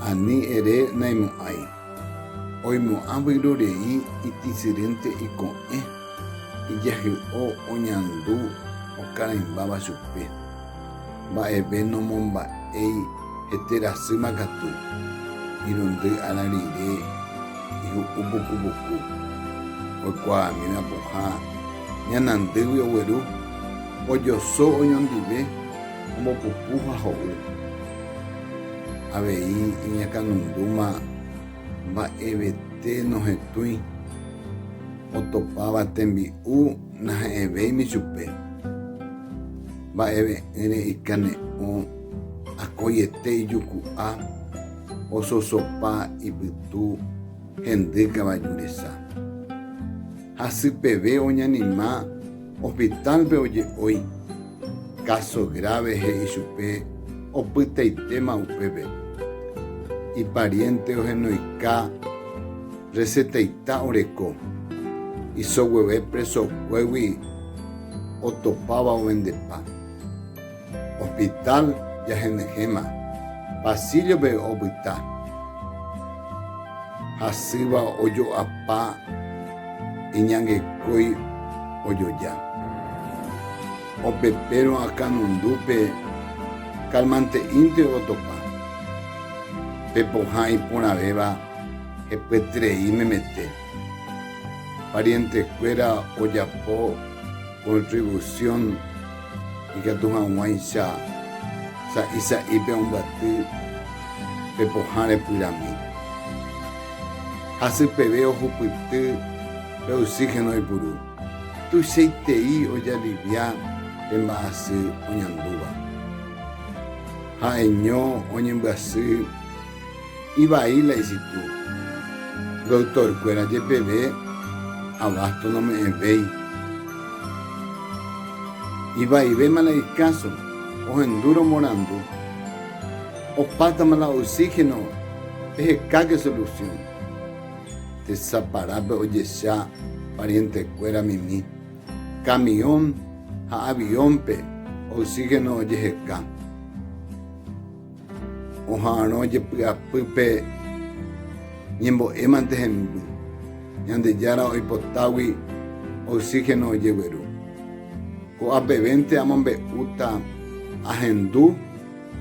Ani ere naimo'ãi. Oimo'ã vyrorei itisyrýnte iko'ẽ, ijahy'o oñandu okarãimbáva chupe. Mba'eve nomomba'éi hete rasýma katu, irundy ára rire ihu'u puku puku. Oikuaamíva pohã ñanandýgui ogueru. Ojoso oñondive, ombopupu ha ho'u. Avei iñakãnundúma mba'evete nohetũi, otopáva tembi'u nahe'ẽvéimi chupe. Mba'eve'ỹre ikane'õ akóiete ijuku'a ososopa ipytu hendy kavaju resa. Hasypeve oñanima. Hospital-pe oje'ói, káso grave he'i chupe opytaitéma upépe. Ipariénte ohenoika resetaita oreko, iso gueve presokuégui otopáva ovendepa. Hospital jahenyhẽma, pasíllope opyta hasýva ojo'apa iñangekói ojoja. Opepérõ akãnundúpe kalmante'ínte otopa, pe pohã iporãvéva hepyeterei memete. Parientekuéra ojapo contribución. Ikatu hag̃uáicha sa'i sa'ípe ombaty pe pohã repyrami. Hasy peve ohupyty pe oxígeno ipuru. Tuichaitei ojalivia pe mba'asy oñandúva. Ha'eño oñembyasy Ivai la isitu. Doctor-kuéra jepeve abasto nome'ẽvéi. Ivaivéma la ikáso ohendu romorandu. Opátama la oxígeno ehekáke solución. Tesaparápe ojecha parientekuéra mimi camión ha avión-pe oxígeno ojeheka. Oha'arõ jepy'apýpe ñembo'émante hemby, Ñandejára oipotágui oxígeno ojegueru. Ko'apevénte amombe'úta ahendu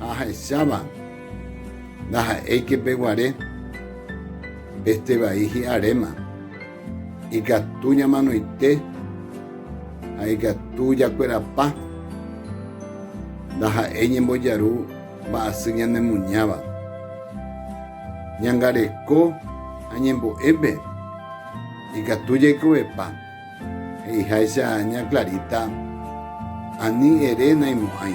ha ahecháva ndaha'éike peguare, este vai hi'aréma. Ikatu ñamanoite ha ikatu jakuerapa ndaha'éi ñembojaru mba'asy ñanemuñáva. Ñangareko ha ñembo'épe ikatu jaikovepa, he'iháicha ña Clarita, ani ere naimo'ãi.